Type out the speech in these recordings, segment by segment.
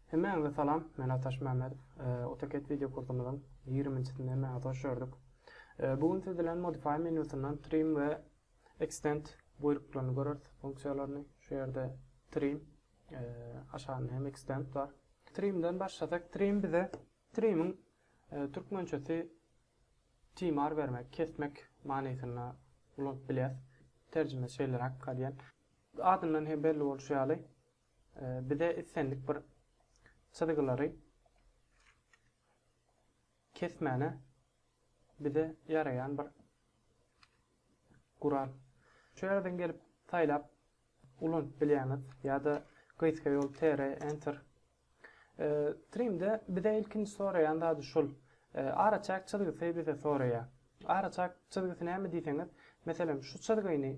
Hemmäňize salam, men Ataş Mämmedow. AutoCAD wideo kursumyzyň ýigriminjisinde hemmäňizi hoş gördük. Bu gün siz bilen Modify menýusyndan Trim we Extend buýruklaryny göreris, funksiýalaryny. Şu ýerde Trim, aşagynda hem Extend bar. Trimden başlasak, Trim bize Trimiň türkmençesi Timar bermek, kesmek manysynda ulanyp bilýäs. Terjimesi şeýleräk gadyýan. Adyndan hem belli bolşy ýaly, bize islendik bir çyzgylary kesmäne bize ýaraýan bir gural. Şu ýerden gelip saýlap ulanyp bilýäňiz ýa-da gysga ýol TR, Enter Trimde bize ilkinji soraýan zady şul. Araçäk çyzgysy bize soraýar. Araçäk çyzgysy näme diýseňiz, meselem, şu çyzgyny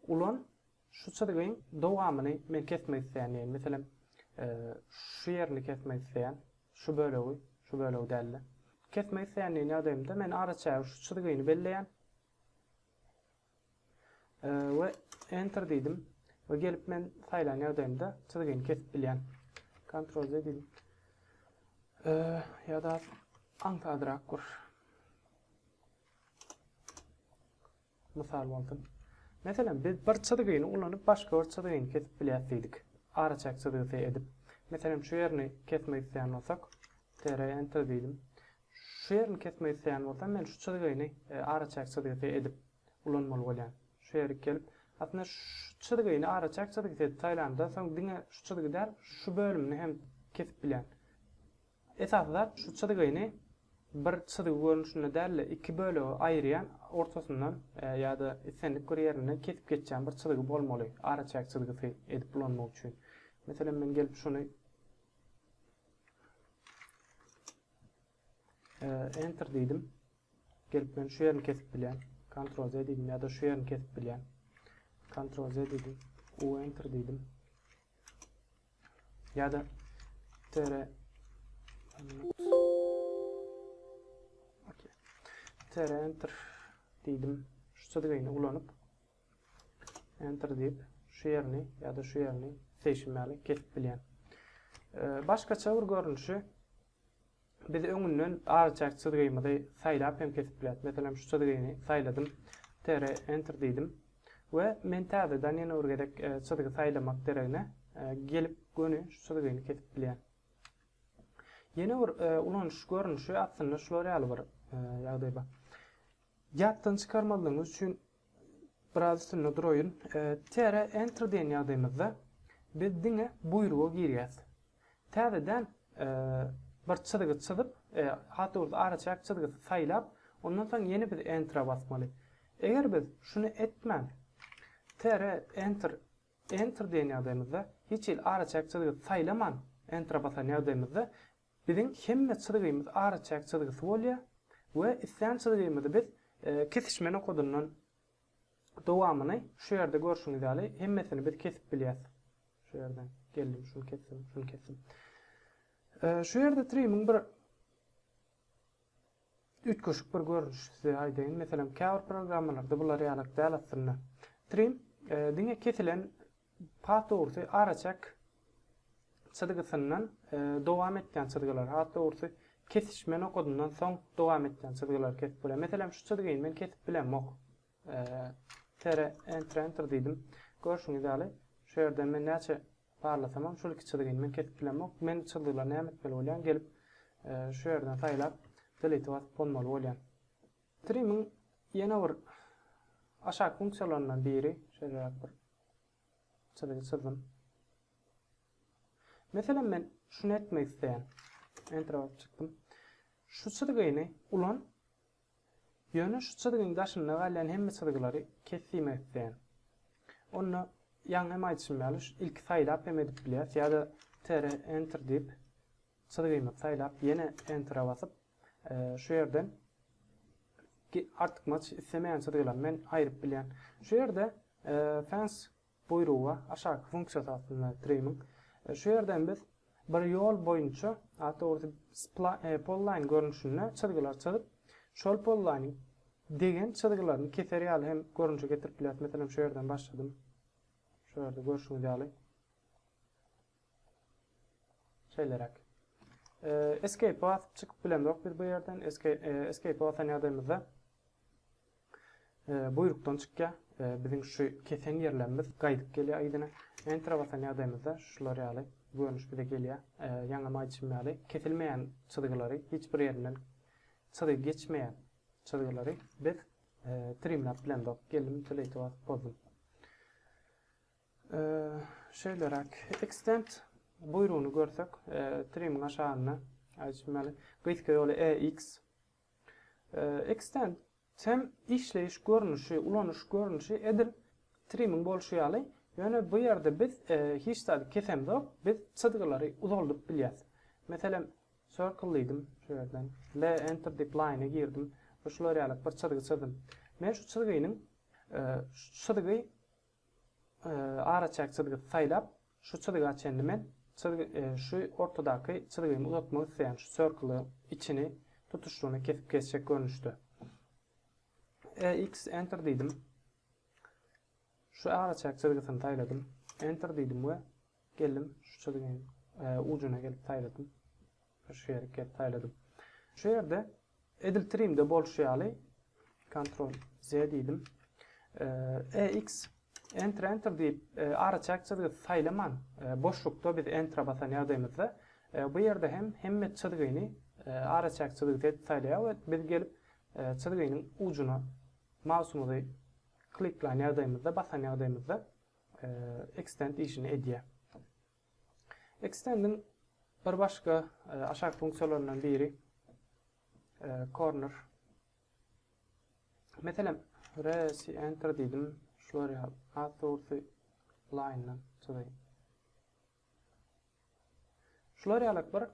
ulan, şu çyzgyň dowamyny men kesmek isleýän diýeýin. Meselem, şu ýerini kesmek isleýän, şu bölegi, şu bölegi däl-de. Kesmek isleýän diýen ýagdaýymda men araçäge şu çyzgyny belleýän. we Enter diýdim we gelip men saýlan ýagdaýymda çyzgyny kesip bilýän. Ctrl Z diýdim. Ýa-da aňsadrak bir mysal bolsun. Meselem, biz bir çyzgyny ulanyp başga bir çyzgyny kesip bilýäs diýdik. Araçäk çyzgysy edip. Meselem, şu ýerini kesmek isleýän bolsak, TR Enter diýdim. Şu ýerini kesmek isleýän bolsam, men şu çyzgyny araçäk çyzgysy edip ulanmaly bolýan. Şu ýerik gelip, aslynda şu çyzgyny araçäk çyzgysy edip saýlanymdan soň diňe şu çyzgy däl, şu bölümini hem kesip bilýän. Esasy zat şu çyzgyny bir çyzgy görnüşinde däl-de iki bölege aýyrýan, ortasyndan ýa-da islendik bir ýerinden kesip geçýän bir çyzgy bolmaly araçäk çyzgysy edip ulanmak üçin. Meselem men gelip şuny Enter diýdim. Gelip men şu ýerini kesip bilýän. Ctrl Z diýdim ýa-da şu ýerini kesip bilýän. Ctrl Z diýdim. U enter diýdim. Ýa-da tere tere enter diýdim. Şu çyzgyny ulanyp Enter diýip, şu ýerini ýa-da şu ýerini seçim ýaly kesip bilýän. Başgaça bir görnüşi biz öňünden arçak çyzgymyzy saýlap hem kesip bilýäris. Meselem, şu çyzgyny saýladym. Tere enter diýdim. We men täzeden ýene bir gezek e, çyzgy saýlamak deregine e, gelip göni şu çyzgyny kesip bilýän. Ýene bir e, ulanyş görnüşi aslynda şular ýaly bir ýagdaý bar. Ýatdan çykarmalygyňyz üçin Biraz üstünde duraýyn. TR Enter diýen ýagdaýymyzda biz diňe buýruga girýäs. Täzeden bir çyzgy çyzyp, has dogrusy araçäk çyzgysy saýlap, ondan soň ýene biz Enter-a basmaly. Eger biz şuny etmän, TR Enter Enter diýen ýagdaýymyzda, hiç hili araçäk çyzgysy saýlaman Enter-a basan ýagdaýymyzda Biziň hemme çyzgymyz araçäk çyzgysy bolýar we islän çyzgymyzy biz kesişme nokadyndan dowamyny şu ýerde görşüňiz ýaly hemmesini biz kesip bilýäs. Şu ýerden geldim, şuny kesdim, şuny kesdim. Şu ýerde trimmiň bir Üýtgeşik bir görnüşi size aýdaýyn. Meselem, käbir programmalarda bular ýalak däl aslynda. Trim diňe kesilen has dogrusy araçek çyzgysyndan dowam etýän çyzgylar, has dogrusy kesişme nokadyndan soň dowam etýän çyzgylary kesip bolýar. Meselem, şu çyzgyny men kesip bilemok. Enter enter diýdim. Görşüňiz ýaly, şu ýerden men näçe Barlasamam şul iki çyzgyny men kesip bilemok. Men çyzgylary näme etmeli bolýan gelip şu ýerden saýlap delete basyp gonmaly bolýan. Trim'in ýene bir aşak funksiýalaryndan biri şeýleräk bir çyzgy çyzdym. Meselem men şuny etmek isleýän. Enter basyp çykdym. Şu çyzgyny ulan Ýöne şu çyzgyň daşynda galýan hemme çyzgylary kes diýmek isleýän. Onda ýaňy hem aýdyşym ýaly şu ilki saýlap hem edip bilýäs ýa-da TR Enter diýip çyzgymyzy saýlap ýene Enter-e basyp şu ýerden artykmaç islemeýän çyzgylary men aýryp bilýän. Şu ýerde Fence Buýruga, aşaky funksiýasy aslynda triming. Şu ýerden biz bir ýol boýunça, at dogrusy polline görnüşinde çyzgylar çyzyp, şol polline-iň degen çyzgylaryny keser ýaly hem görnüşe getirip bilýäris. Meselem, şu ýerden başladym. Şu ýerde görşüňiz ýaly. Şeýleräk. Escape basyp çykyp bilemzok biz bu ýerden. Escape basan ýagdaýymyzda buýrukdan çykýar. Biziň şu kesen ýerlerimiz gaýdyp gelýär yzyna. Enter basan ýagdaýymyzda şular ýaly görnüş bize gelýär. Ýaňam aýdyşym ýaly, kesilmeýän çyzgylary, hiç bir ýerinden çyzgy geçmeýän çyzgylary biz trimläp bilemzok. Geldim, delete basyp bozdum. Şeýleräk, Extend buýrugyny görsek, trimiň aşagynda, aýdyşym ýaly, gysga ýoly EX. Extend hem işleýiş görnüşi, ulanyş görnüşi edil trimiň bolşy ýaly, ýöne bu ýerde biz hiç zady kesemzok, biz çyzgylary uzaldyp bilýäs. Meselem, Circle diýdim, şu ýerden, L Enter diýip Line-e girdim we şular ýaly bir çyzgy çyzdym. Men şu çyzgynyň, şu çyzgy araçäk çyzgysy saýlap, şu çyzga çenli men çyzgy şu ortadaky çyzgymy uzatmak isleýän şu circle içini tutuşlygyna kesip geçjek görnüşde. EX enter diýdim. Şu araçäk çyzgysyny saýladym. Enter diýdim we Geldim, şu çyzgyň ujuna gelip saýladym. Şu ýerik gelip saýladym. Şu ýerde edil trimde bolşy ýaly Ctrl Z diýdim. EX Enter Enter diýip araçäk çyzgy saýlaman boşlukda biz Enter basan ýagdaýymyzda bu ýerde hem hemme çyzgyny araçäk çyzgysy edip saýlaýar we biz gelip çyzgynyň ujuna mausumyzy kliklaýan ýagdaýymyzda basan ýagdaýymyzda extend işini edýär. Extend'in bir başga e, aşak funksiýalaryndan biri e, corner. Meselem, resi enter diýdim, şular ýaly, at source line-dan çyzaýyn. Şular ýaly bir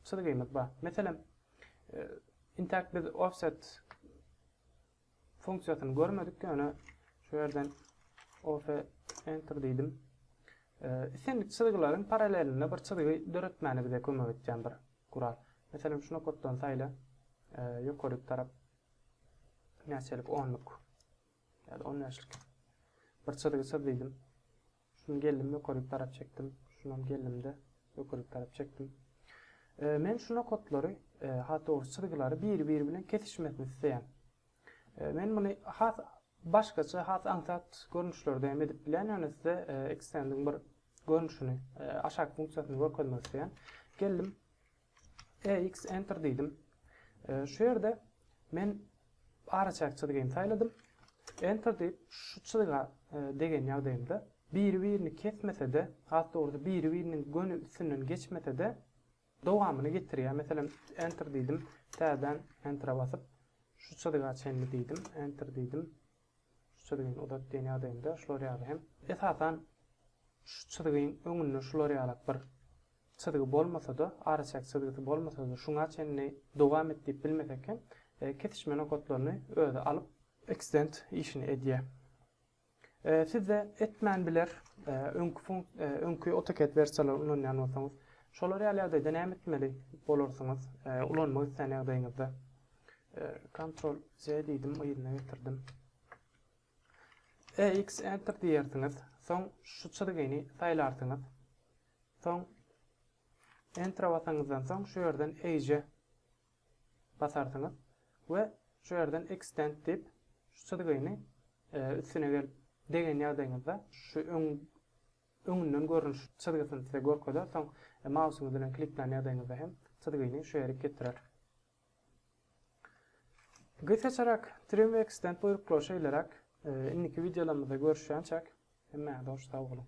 çyzgymyz bar. Meselem, intäk biz offset funksiýasyny görmedik, ýöne şu ýerden ofe enter diýdim. Islendik çyzgylaryň paralelinde bir çyzgy döretmäne bize kömek etýän bir gural. Meselem, şu nokatdan saýla, ýokaryk tarap näçelik onluk ýa-da 15lik bir çyzgy çyz diýdim. Şuny geldim ökürlik tarap çekdim. Şunam geldimde ökürlik tarap çekdim. Men şu nokatlary, has dogry çyzgylary biri-biri bilen kesişmesini isleýän. Men muny has başgaça, has aňsat görnüşlerde hem edip bilýän, ýöne size ekstendiň bir görnüşini, aşak funksiýasyny görkezmek isleýän. Geldim. EX Enter diýdim. Şu ýerde men araçäk çyzgyny saýladym. Enter diýip, şu çyzga degen ýagdaýymda biri-birini kesmese-de, has dogrusy biri-biriniň göni üstünden geçmese-de, dowamyny getirýär. Meselem, Enter diýdim, täzeden Enter-e basyp, şu çyzga çenli diýdim, Enter diýdim. Şu çyzgyny uzat diýen ýagdaýynda şular ýaly hem. Esasan şu çyzgyň öňünde şular ýalak bir çyzgy bolmasa-da, araçäk çyzgysy bolmasa-da şuňa çenli dowam et diýip bilmesek hem, kesişme nokatlaryny özi alyp, eksdent işini edýär. Sizde etmän biler, öňki funk, öňki AutoCAD wersiýalary ulanýan bolsaňyz. Şolar ýaly ýagdaýda näme etmeli bolarsyňyz, ulanmak islän ýagdaýyňyzda? Ctrl Z diýdim, yzyna getirdim. EX Enter diýersiňiz. Soň şu çyzgyny saýlarsyňyz. Soň Enter basaňyzdan soň şu ýerden Age basarsyňyz we şu ýerden Extend diýip şu çyzgyny e, üstüne gelip degen ýagdaýyňyzda şu öň öňünden görnüş çyzgysyny size görkezer. Soň e, mausyňyz bilen klikleýän ýagdaýyňyzda hem çyzgyny şu ýere getirer. Gysaçarak Trimwex-den buýruklar şeýleräk, indiki wideolarymyzda görüşýänçäk, hemmäňize hoş sag boluň!